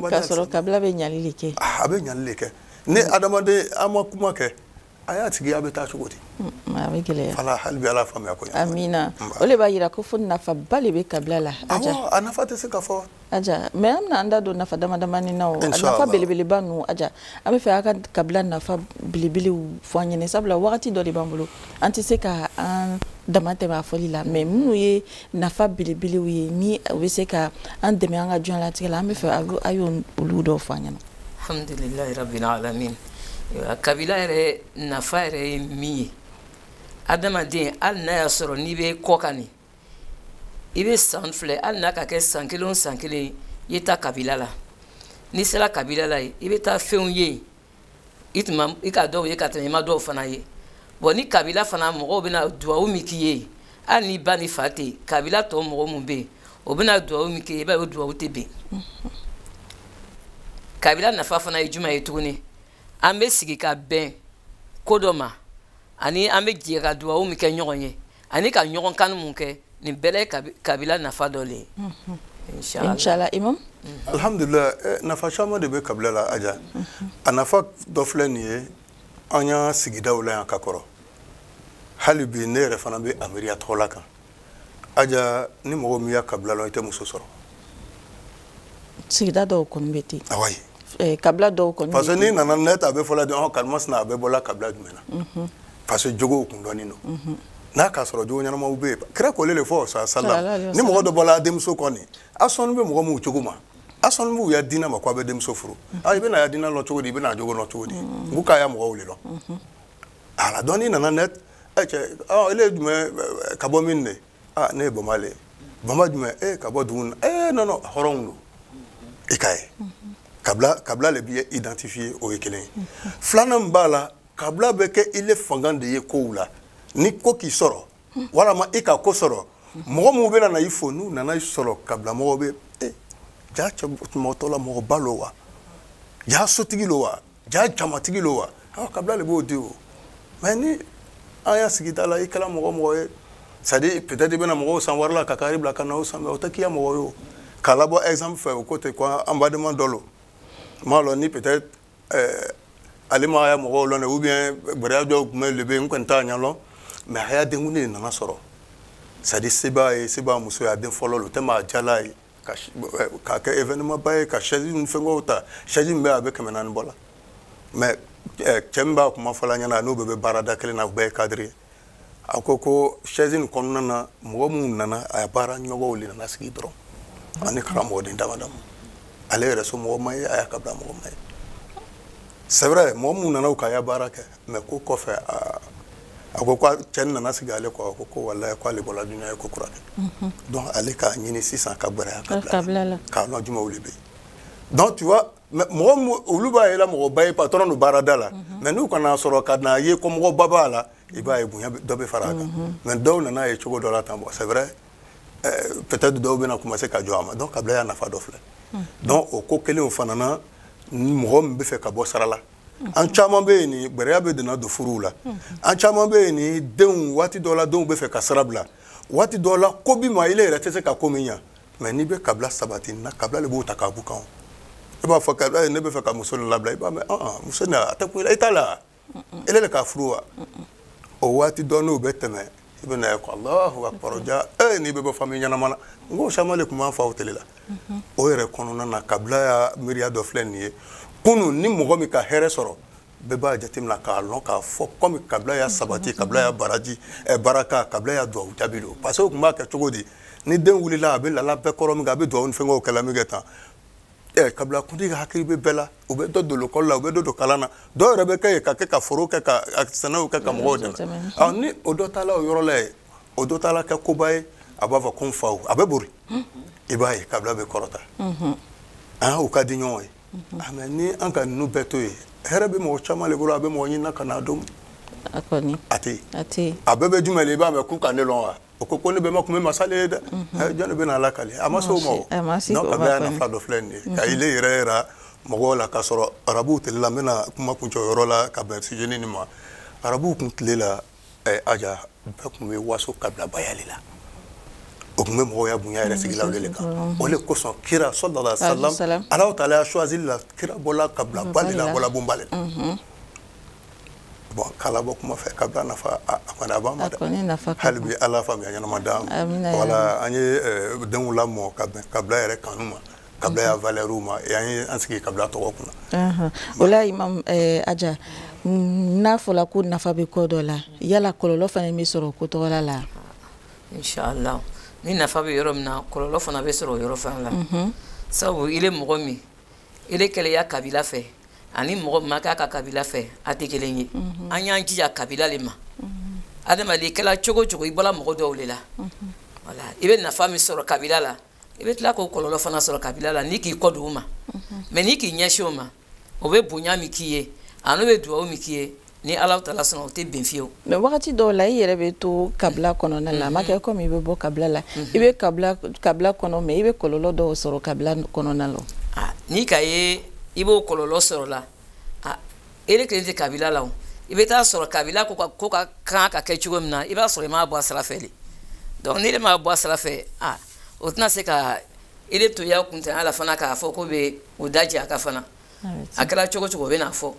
k'a sɔrɔ kabila bɛ ɲali de kɛ a bɛ ɲali de kɛ ni adamaden an ma kuma kɛ a y'a tigi a bɛ taa cogo di a bɛ gɛlɛya voilà hali bi ala faamuya ko amina o de b'a yira ko fo nafaba de bɛ kabila la a nafa tɛ se ka fɔ Aja, mais an bɛna an da don nafa damadamani na o nafa belebeleba ninnu aja an bɛ fɛ a ka kabila nafa belebelew fɔ an ɲɛna sabula wagati dɔ de b'an bolo an tɛ se ka an dama tɛmɛ a fɔli la mais minnu ye nafa belebelew ye ni u bɛ se ka an dɛmɛ an ka diɲɛlatigɛ la an bɛ fɛ a ye olu dɔw fɔ an ɲɛna. alhamdulilayi rabbil alamin kabila yɛrɛ nafa yɛrɛ ye min ye adamaden hali n'a y'a sɔrɔ n'i bɛ kɔkan de i bɛ san filɛ hali n'a ka kɛ san kelen o san kelen i ye taa kabila la n'i sera kabila la i bɛ taa fɛnw ye yen i tun ma i ka dɔw ye ka tɛmɛ i ma dɔw fana ye bon ni kabila fana mɔgɔw bɛna duwawu min k'i ye hali n'i ba n'i fa tɛ yen kabila tɔ mɔgɔ minnu bɛ yen o bɛna duwawu min k'i ye i b'a ye o duwawu tɛ ben kabila nafa fana ye juma ye tuguni an bɛ sigi ka bɛn ko dɔ ma ani an bɛ jɛ ka duwawu min kɛ ɲɔgɔn ye ani ka ɲɔgɔn kanu mun kɛ nin bɛɛ ye kabila nafa dɔ le ye mhm. inshallah imam mhm. alhamdulillah eh, nafa caman de bɛ kabila la aja mhm. a nafa dɔ filɛ nin ye an ya sigidaw la yan ka kɔrɔ hali bi ne yɛrɛ fana bɛ a miiri a tola a kan aja ni mɔgɔ m'i ya kabila lɔn i tɛ muso sɔrɔ sigida dɔw kɔni bɛ ten awa ye eh, kabila dɔw kɔni parce que n'i nana net a bɛ fɔla dɔn ɔ karimasina a bɛ bɔla kabila jumɛn na mhm. parce que jogow kun dɔnnen don mhm. n'a k'a sɔrɔ jogo ɲɛnamaw bɛ yen kira kɔlen de fɔ sa salam ni mɔgɔ dɔ bɔla denmuso kɔ ni a sɔnni bɛ mɔgɔ minw jogo ma a sɔnni b'u ya diinɛ ma ko a bɛ denmuso furu mhm. a ah, i bɛna ya diinɛ lɔn cogo di i bɛna a jogo lɔn cogo di n ko k'a ya mɔgɔw de lɔn a la donc n'i nana net cɛ ɔ ele ye jumɛn ka bɔ min de aa ne ye bamba le ye bamba jumɛn ee ka bɔ dugu na non non hɔrɔnw don i k'a ye kabila kabila le b'i identifier o ye kelen ye filanan min b'a la kabila bɛ kɛ i le fanga de ye kow la ni ko k'i sɔrɔ walama i ka ko sɔrɔ mɔgɔ minnu bɛna na i fo n'u nana i sɔrɔ kabila mɔgɔ bɛ ee jaa cɛ mɔgɔtɔ la mɔgɔba lo wa jaa sotigi lo wa jaa jamatigi lo wa aw kabila de b'o di o mais ni an ya sigida la i kɛra mɔgɔ mɔgɔ ye c'est à dire peut-être i bɛna mɔgɔw san wari la ka car bila ka na o san mais o tɛ k'i ya mɔgɔ ye o k'a labɔ exemple fɛ o ko ten ko an badenma dɔ lo n m'a lɔn ni peut-être eh, ale ma ya mɔgɔw lɔn dɛ ou bien gbɛrɛya dɔw tun bɛ le bɛ n kɔni t'a ɲɛ lɔn mais a ya denkundi de nana sɔrɔ c'est à dire se b'a ye se b'a muso ye a den fɔlɔ lo o tɛ maa jala ye k'a kɛ événement ba ye ka chaise ni fɛngɛw ta chaise min bɛ a bɛ kɛmɛ naani bɔ la mais eh, cɛ min b'a kuma fɔla ɲɛna n'o bɛɛ bɛ baarada kelen na u bɛɛ ye cadre ye a ko ko chaise nin kɔnɔna na mɔgɔ minnu nana a baara ɲɔgɔnw de nana sigi dɔrɔn ani karamɔgɔden dama dama ale yɛrɛ somɔgɔ ma ye a ya kabila mɔgɔ ma ye c'est vrai mɔgɔ minnu nana u ka ya baara kɛ mais ko kɔfɛ a ko cɛ nana sigi ale kɔ a ko ko walayi k'ale bɔra dunya ye ko kura kɛ donc ale k'a ɲini sisan ka gbɛrɛ a ya kabila la k'a lɔn jumɛnw le bɛ yen donc tu vois mɔgɔ olu b'a yela mɔgɔba ye patron don baarada la mais n'u ka n'a sɔrɔ ka na a ye ko mɔgɔba b'a la i b'a ye bonya dɔ bɛ fara a kan mais dɔw nana a ye cogo dɔ la tan bon c'est vrai peut-être dɔw bɛna commencer ka jɔn a ma donc kabila ya nafa dɔ filɛ donc o ko kelen o fana mɔgɔ min bɛ fɛ ka bɔ sira la an caman bɛ yen ni gbɛrɛya bɛ donna don furuw la an caman bɛ yen ni denw waati dɔ la denw bɛ fɛ ka sira bila waati dɔ la ko b'i ma ile yɛrɛ tɛ se ka ko min ɲa mais n'i bɛ kabila sabatinin na kabila de b'o ta k'a bɔ i kan i b'a fɔ kabila ye ne bɛ fɛ ka muso nin labila i b'a mɛn ɔn muso nin a tɛ kun i la i t'a la ile de k'a furu wa o waati dɔ n'o bɛ tɛmɛ i bɛ n'a ye ko alahu akbar aja ee n'i bɛ bɔ famille ɲɛnama na n ko caman le tun b'an faw tele la o yɛrɛ kɔnɔna na kabilaya miiriya dɔ filɛ nin ye kunu ni mɔgɔ min ka hɛrɛ sɔrɔ bɛɛ b'a jateminɛ k'a lɔn k'a fɔ kɔmi kabilaya sabati kabilaya baraji eh, baraka kabilaya duwawu jaabi don parce que u tun b'a kɛ cogo di ni den wulila a bɛ lala bɛɛ kɔrɔ min kɛ a bɛ duwawu ni fɛngɛw kɛla min kɛ tan ɛ kabila kuntigi ka hakili bɛ bɛɛ la u bɛ dɔ don lekɔli la u bɛ dɔ don kalan na dɔw yɛrɛ bɛ kɛ yen ka kɛ ka foro kɛ ka sɛnɛw kɛ ka mɔgɔw dɛmɛ ɔ ni o dɔ taala o yɔrɔ la yen o dɔ taala kɛ koba ye a b'a fɔ ko n faw a bɛ bori i b'a ye kabila bɛ kɔrɔta an u ka di ɲɔgɔn ye mɛ ni an ka ninnu bɛɛ to yen hɛrɛ bɛ mɔgɔ caman le bolo a bɛ mɔgɔ ɲininka n'a dɔn a tɛ a bɛɛ bɛ jumɛn i b'a mɛn k'u ka ne lɔn wa o ko ko ne bɛma tun bɛ masa le ye dɛ mhm. jɔn de bɛna a lakali a ma se o ma o donc kabilaya nafa dɔ filɛ nin ye mhm. ka ile yɛrɛ yira mɔgɔw la k'a sɔrɔ arabuw tile la n bɛna kuma kuncɛ o yɔrɔ la ka bɛn sujet nin ma arabuw tun tile la eh, aja bɛɛ tun bɛ waso kabilabaya le la o tun bɛ mɔgɔya bonya yɛrɛ sigila o de kan o de kosɔn kira sallallahu alaihi wasallam alahu taala ya choisili la kira bɔla kabilaba de la bɔla bonba de la bon k'a labɔ kuma fɛ kabila nafa a kɔni a b'an ma dɛ hali bi ala faamuya ɲɛnama d'an ma wala an ye eh, denw lamɔ ka bɛn kabila yɛrɛ kanu ma kabilaya valɛriw ma an ye an sigi kabila tɔgɔ kunna o la imam eh, aja mm, n'a fɔla ko nafa bɛ ko dɔ la yala kɔlɔlɔ fana bɛ sɔrɔ ko tɔgɔ la la inshallah ni nafa bɛ yɔrɔ min na kɔlɔlɔ fana bɛ sɔrɔ o yɔrɔ fana la sabu i le mɔgɔ min ele kɛlen i ya kabila fɛ ani mɔgɔ min ma k'a ka kabila fɛ a tɛ kelen ye mhm. an y'an jija kabila le ma mhm. adamaden kɛla cogo o cogo i bɔla mɔgɔ dɔw le la mhm. wala i bɛ nafa min sɔrɔ kabila la i bɛ tila k'o kɔlɔlɔ fana sɔrɔ kabila la n'i k'i kɔ don u ma mɛ n'i k'i ɲɛsin o ma o bɛ bonya min k'i ye ani u bɛ duwawu min k'i ye ni ala taala sɔnna o tɛ bɛn fiyewu mɛ wagati dɔw la i yɛrɛ bɛ to kabila kɔnɔna la a ma kɛ komi i bɛ bɔ kabila la i bɛ kabila kɔnɔ mɛ i bɛ kɔlɔlɔ dɔw sɔrɔ kabila kɔnɔna la n'i k'a ye i b'o kɔlɔlɔ sɔrɔ la ele kelen tɛ kabila la o i bɛ t'a sɔrɔ kabila ko ka ko ka kan ka kɛ cogo min na i b'a sɔrɔ i m'a bɔ a sira fɛ de donc ni ele m'a bɔ a sira fɛ a o tɛna se ka ele to i ya kuntanya la fana k'a fɔ ko bɛ o da jɛ a ka fana a kɛra cogo cogo o bɛ n'a fɔ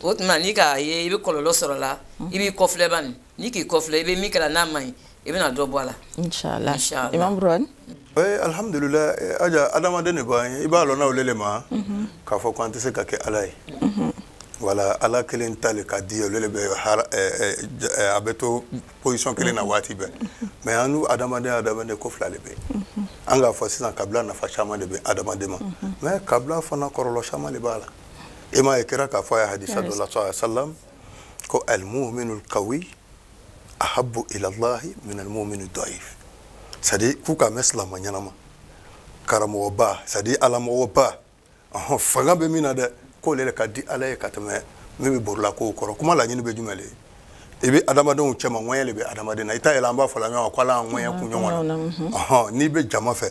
o tuma n'i k'a ye i bɛ kɔlɔlɔ sɔrɔ la i b'i kɔfilɛ bani n'i k'i kɔfilɛ i bɛ min kɛla n'a man ɲi i bɛna dɔ bɔ a la. inshallah imam buruwani. ee alhamdulilayi eh, aja adamaden de b'an ye i b'a lɔnna o lele ma mhm. k'a fɔ ko an tɛ se ka kɛ ala ye. Mhm. wala ala kelen ta le ka di olu le bɛ eh, eh, a bɛ to position kelen na waati bɛɛ mais annu adamadenya adamadenya ko fila le bɛ an k'a fɔ sisan kabila nafa caman le bɛ adamaden ma mais kabila fana kɔlɔlɔ caman le b'a la e m'a ye kira k'a fɔ a ya hadisa dɔ la sallallahu wa salam ko almuminul kawi ahabu ilallahi min almuminu daif c'est à dire k'u ka mɛn silamɛ ɲɛnama karamɔgɔba c'est à dire alamɔgɔba ɔhɔn fanga bɛ min na dɛ k'ole le ka di ala ye ka tɛmɛ min bɛ borila kow kɔrɔ kuma laɲini bɛ jumɛn le i bɛ adamadenw cɛma ŋɔɲɛ le bɛ adamaden na i t'a yɛlɛ an b'a fɔ la ɲɔgɔn ko ala ŋɔɲɛ kun ɲɔgɔn na ɔhɔn n'i bɛ jama fɛ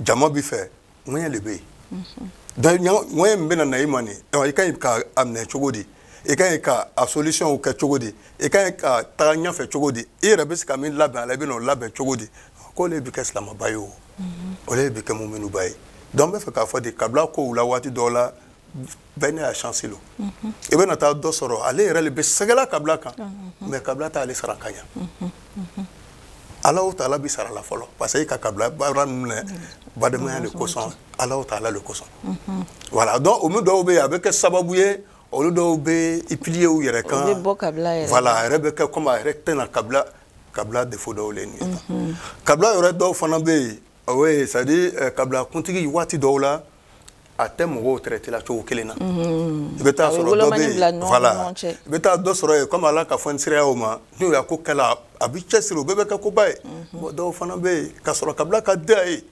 jama b'i fɛ ŋɔɲɛ le bɛ yen ŋɔɲɛ min bɛna na i ma nin i ka ɲi ka a minɛ cogo di i ka ɲi ka a solution kɛ cogo di i ka ɲi ka taga ɲɛfɛ cogo di i yɛrɛ bɛ se ka min labɛn a la i bɛna o labɛn cogo di k'o le bɛ kɛ silamɛba ye o o le bɛ kɛ muminuba ye donc n bɛ fɛ k'a fɔ de kabila kow la waati dɔw la bɛɛ n'a chance lo i bɛna taa dɔ sɔrɔ ale yɛrɛ le bɛ sɛgɛla kabila kan mais kabila t'ale sara ka ɲa allahu taala b'i sara la fɔlɔ parce que e ka kabila baara ninnu kɛ badenmaya de kosɔn allahu taala le kosɔn voilà donc olu dɔw bɛ yen a bɛ kɛ sababu ye olu dɔw bɛ i plier u yɛrɛ kan voilà a yɛrɛ bɛ kɛ komi a yɛrɛ tɛna kabila kabila défaut dɔw le nin ye mhm. kabila yɛrɛ dɔw fana bɛ yen o ye c'est à dire eh, kabila kuntigi waati dɔw la a tɛ mɔgɔw traiter la cogo kelen na mhm. i bɛ taa sɔrɔ dɔ bɛ yen voilà i bɛ taa dɔ sɔrɔ yen komi ala ka fɛn siyaya o ma n'u ya ko kɛla a bɛ cɛsiri o bɛɛ bɛ kɛ koba ye mhm. bon dɔw fana bɛ yen ka sɔrɔ kabila ka di a ye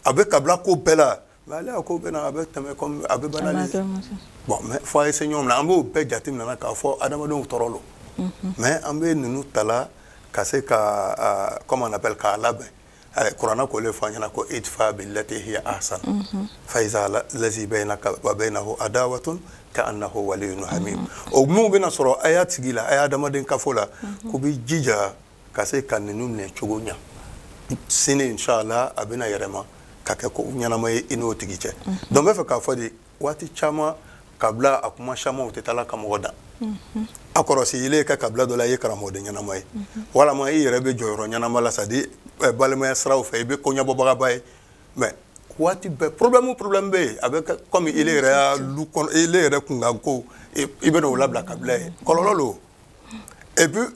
a bɛ kabila ko bɛɛ la mais ale ko bɛna a bɛ tɛmɛ a bɛ bana bon mais fɔ a ye se ɲɔgɔn na an b'o bɛɛ jate minɛ k'a fɔ adamadenw tɔɔrɔ lo mais an bɛ ninnu ta la ka se ka comment on appelle k'a labɛn kuranɛ k'o le fɔ an ɲɛna ko idfa billati hiya ahsan fa iza lazi bainaka wa bainahu adawatun ka'annahu waliyyun hamim o minnu bɛna sɔrɔ a ya sigi la a ya adamaden kafo la k'o b'i jija ka se ka ninnu minɛ cogo ɲa sini inshallah a bɛna yɛrɛma ka kɛ ko ɲɛnama ye i n'o tigi cɛ donc n bɛ fɛ k'a fɔ de waati caman kabila a kuma caman u tɛ taa la ka mɔgɔ dan a kɔrɔsi ile ka kabila dɔ la i ye karamɔgɔden ɲɛnama ye walama i yɛrɛ bɛ jɔyɔrɔ ɲɛnama la c'est à dire eh, balimaya siraw fɛ i bɛ ko ɲɛbɔbagaba ye mais waati bɛɛ problème o problème bɛ yen a bɛ kɛ comme ile yɛrɛ ya lu kɔnɔ ile yɛrɛ kunkanko i bɛna o labila kabila ye kɔlɔlɔ lo et puis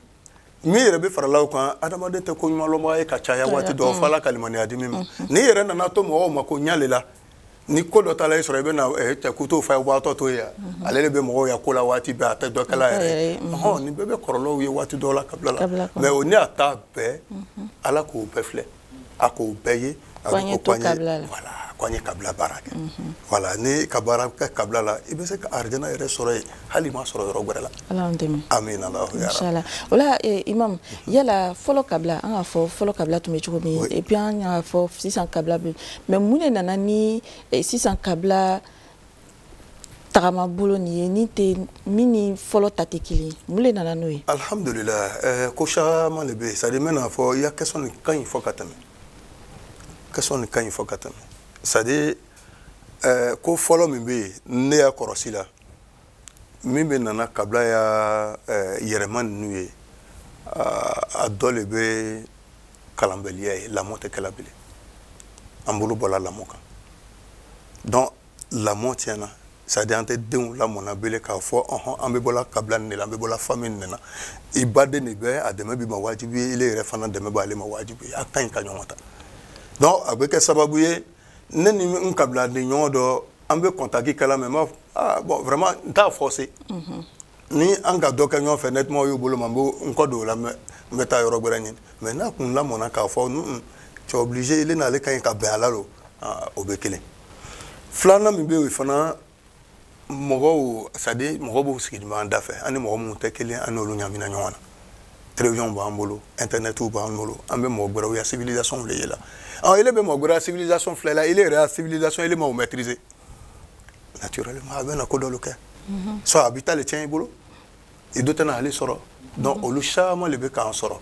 min yɛrɛ bɛ farala o kan adamaden tɛ ko ɲumanlɔnbaga ye ka caya waati dɔw fɔ ala ka limaniya di min ma n'i yɛrɛ nana to mɔgɔw ma ko ɲale la ni ko dɔ taala i sɔrɔ i bɛ na eh, cɛ kutu fa ye waatɔ to ye ale le bɛ mɔgɔw ya ko la waati bɛɛ a tɛ dɔ kɛl'a yɛrɛ ye ɔhɔn nin bɛɛ bɛ kɔlɔlɔw ye waati dɔw la kabila la mais o ni a ta bɛɛ ala k'o bɛɛ filɛ a ko bɛɛ ye ko an ye to kabila la voilà ko an ye kabila baara kɛ voilà n'i ka baara kɛ kabila la i bɛ se ka arijana yɛrɛ sɔrɔ yen hali i m'a sɔrɔ yɔrɔ wɛrɛ la ala y'an dɛmɛ amina alahu ya inshallah o la eh, imam yala fɔlɔ kabila an k'a fɔ fɔlɔ kabila tun bɛ cogo min oui. et puis an y'a fɔ sisan kabila bɛ mais mun de nana ni eh, sisan kabila tagama bolo nin ye ni tɛ min ni fɔlɔ ta tɛ kelen ye mun de nana n'o ye. alihamudulilayi ɛɛ ko caman le bɛ yen c'est à dire n bɛna fɔ i ya question nin ka ɲi fɔ ka tɛmɛ question nin ka ɲi fɔ ka tɛmɛ c'est à dire ɛɛ ko fɔlɔ min bɛ yen ne y'a kɔrɔsi la min bɛ nana kabila ya ɛɛ yɛrɛma ninnu ye a dɔ le bɛ kalanbaliya ye lamɔ tɛ kɛla bilen an bolo bɔla lamɔ kan donc lamɔ tiɲɛna c'est à dire an tɛ denw lamɔna bele k'a fɔ ɔhɔn an bɛ bɔla kabila nin de la an bɛ bɔla famille nin de la i baden de bɛ a dɛmɛ b'i ma wajibi ye ile yɛrɛ fana dɛmɛ b'ale ma wajibi ye a ka ɲi ka ɲɔgɔn ta donc a bɛ kɛ sababu ye ne ni n kabiladen ɲɔgɔn dɔ an bɛ contact kɛla mais n b'a ah bon vraiment n t'a forcer mhm. ni an ka dɔ kɛ ɲɔgɔn fɛ nettoyage y'u bolo ma n bɛ n kɔ don o la mais n bɛ taa yɔrɔ wɛrɛ ɲini mais n'a kun lamɔna k'a fɔ tu es obligé ile n'ale ka ɲi ka bɛn a la lo o bɛ kelen filanan min bɛ yen fana mɔgɔw c'est à dire mɔgɔw bɛ siginin an dafɛ an ni mɔgɔ minnu tɛ kelen an n'olu ɲamina ɲɔgɔn na télévision b'an bolo internetiw b'an bolo an bɛ mɔgɔ gɛrɛw ya civilisation de yela ɔ ele bɛ mɔgɔ gɛrɛ ya civilisation filɛla ele yɛrɛ ya civilisation ele ma o maîtriser naturellement a bɛna ko dɔlu kɛ soit a b'i ta le tiɲɛ i bolo i do tɛna ale sɔrɔ donc olu caman le bɛ k'an sɔrɔ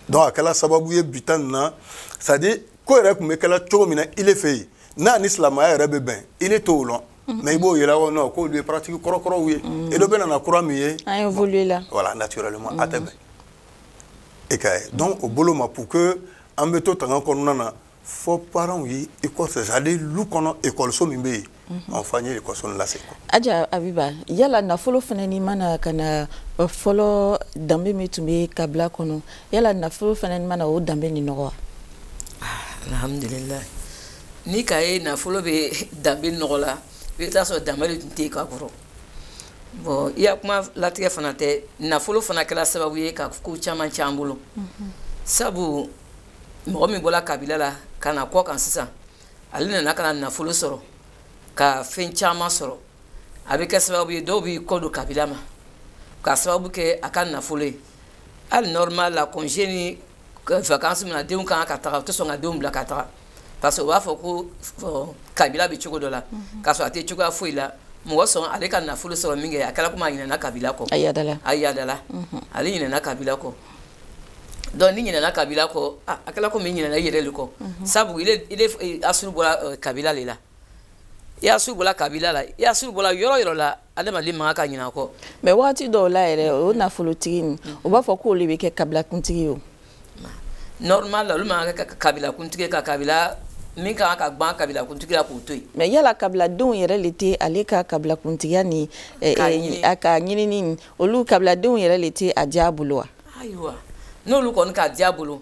donc a kɛla sababu ye bi ta nin na c'est à dire ko yɛrɛ kun bɛ kɛla cogo min na ile fɛ yen n'a ni silamaya yɛrɛ bɛ bɛn ile t'o lɔn mais i b'o yɛlɛ o non k'olu ye pratique kɔrɔkɔrɔw ye et dɔ bɛ nana kura min ye an évolue la voilà naturellement a tɛ bɛn e ka ye donc o bolo ma pour que an bɛ to tanga kɔnɔna na fo parents ye école c'est à dire lu kɔnɔ ekɔliso min bɛ yen mhm. enfin n ye ekɔliso nin lase aja abiba yala nafolo fana nin ma na ka na fɔlɔ danbe min tun bɛ kabila kɔnɔ yala nafolo fana nin ma na o danbe nin nɔgɔ wa ah, alhamdulillah n'i k'a ye nafolo bɛ danbe nɔgɔ la i bɛ taa sɔrɔ danbe de tun tɛ yen ka kɔrɔ bon i ya kuma latigɛ fana tɛ nafolo fana kɛra sababu ye ka ko caman cɛn an bolo mhm. sabu mɔgɔ min bɔla kabila la ka na kɔkan sisan ale nana ka na nafolo sɔrɔ ka fɛn caman sɔrɔ a bɛ kɛ sababu ye dɔw b'i kɔ don kabila ma ka sababu kɛ a ka nafolo ye hali normal la congé ni vacances min na denw kan ka taga u tɛ sɔn ka denw bila ka taga parce que u b'a fɔ ko kabila bɛ cogo dɔ la mhm. k'a sɔrɔ a tɛ cogoya foyi la mɔgɔ sɔn ale ka nafolo sɔrɔ min kɛ a kɛra komi a ɲinɛna kabila kɔ a yadala ale ɲinɛna kabila kɔ donc n'i ɲinɛna kabila kɔ ah, a kɛla komi i ɲinɛna i yɛrɛ le kɔ mhm. sabu eh, asuru bɔra eh, kabila le la i asuru bɔla kabila la i asuru bɔla yɔrɔ yɔrɔ la adamaden man kan ka ɲinɛ a kɔ mais wagati dɔw la yɛrɛ o nafolotigi nin mhm. o b'a fɔ k'o le bɛ kɛ kabilakuntigi ye o normal la olu man kan ka kɛ kabilakuntigi ka kabila min ka kan ka gwan kabilakuntigi la k'o to yen mais yala kabiladenw yɛrɛ le tɛ ale ka kabilakuntigiya ni eh, a ka ɲinini olu kabiladenw yɛrɛ le tɛ a diya bolo wa ayiwa n'olu kɔni k'a diya bolo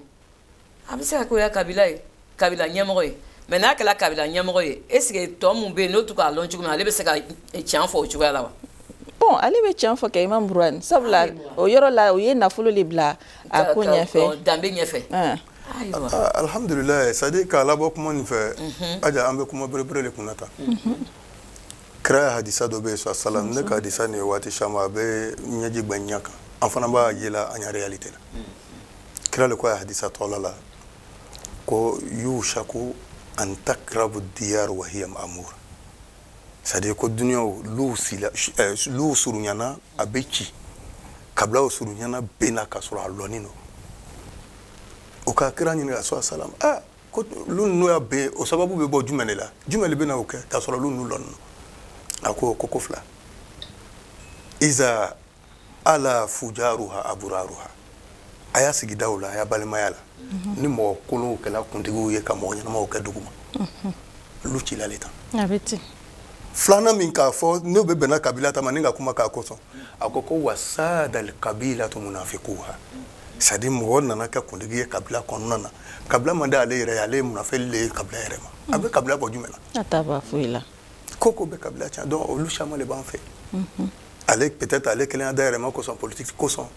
a bɛ se ka k'o ya kabila ye kabila ɲɛmɔgɔ ye mais n'a kɛra kabila ɲɛmɔgɔ ye est ce que tɔ min bɛ yen n'o tɛ k'a lɔn cogo min ale bɛ se ka tiɲɛ fɔ o cogoya la wa bon ale bɛ tiɲɛ fɔ kɛ imam buruwani sabula o yɔrɔ la o ye nafolo le bila a ko ɲɛfɛ danbe ɲɛfɛ alhamdulilayi c'est à dire k'a labɔ kuma nin fɛ aja an bɛ kuma berebere de kunna tan kira ya hadisa dɔ bɛ yen sasalam ne ka hadisa nin ye waati caman a bɛ ɲɛji gbɛ ɲɛ kan an fana b'a ye la an ya réalité la mm. kira le ko a ya hadisa dɔ la ko yushaku an takrabu diyar wa hiya ma'mur c'est à dire ko duniyaw luw sila eh, luw surunyana a bɛ ci kabilaw surunyana bɛna ka sɔrɔ a lɔni don o ka kira ɲininka sa salam ah ko lu ninnu ya ben o sababu bɛ bɔ jumɛn de la jumɛn de bɛna o kɛ k'a sɔrɔ lu ninnu lɔnni a ko ko ko fila iza ala fujaruha aburaruha a ya sigidaw la a ya balimaya la mhm. ni mɔgɔ kolonw kɛla kuntigiw ye ka mɔgɔ ɲɛnamaw kɛ dugu ma mhm. lu cila le tan a bɛ ten filanan min k'a fɔ n'o bɛ bɛnna kabila ta ma ni ka kuma k'a kosɔn a ko ko wasadal kabilatu munafikuha c'est à dire mɔgɔ nana kɛ kuntigi ye kabila kɔnɔna na kabila man di ale yɛrɛ ye ale ye munafɛli le ye kabila yɛrɛ ma a bɛ kabila bɔ jumɛn na a t'a bɔ foyi la ko ko bɛ kabila tiɲɛ donc olu caman le b'an fɛ mhm. ale peut-être ale kelen ya dahirimɛ kosɔn politique kosɔn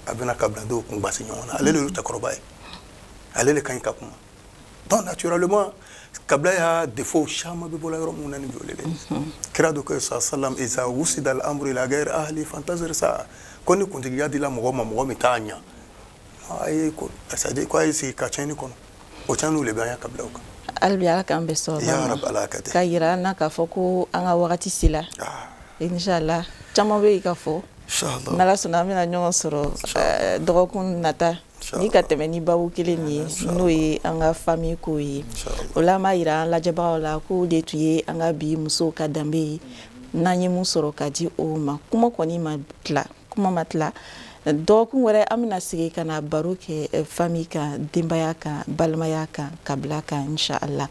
a bɛna kabiladenw kun gbasi ɲɔgɔn na ale le y'u cɛkɔrɔba ye ale le ka ɲi ka kuma donc naturellement kabila ya défaut caman bɛ bɔla yɔrɔ minnu na ni jɔlen dɛ kira dɔ ko sa salam iza wusida al amru ila gayr ahli fantazir sa ko ni kuntigiya dila mɔgɔ ma mɔgɔ min t'a ɲa a ye ko c'est à dire ko a ye sigi ka tiɲɛni kɔnɔ o tiɲɛniw de bɛ an ya kabilaw kan hali bi ala k'an bɛɛ sɔrɔ ya rabi ala ka tɛ k'a yira an na k'a fɔ ko an ka wagati sela ah. inshallah caman bɛ yen ka fɔ n'ala sɔnna an bɛna ɲɔgɔn sɔrɔ dɔgɔkun nata ni ka tɛmɛ ni babu kelen nin ye n'o ye an ka famille ko ye o la an b'a yira an lajɛbagaw la k'o le tun ye an ka bi musow ka danbe ye n'an ye mun sɔrɔ ka di o ma kuma kɔni ma tila kuma ma tila dɔgɔkun wɛrɛ an bɛna segin ka na baro kɛ eh, famille kan denbaya kan balimaya kan kabila kan inshallah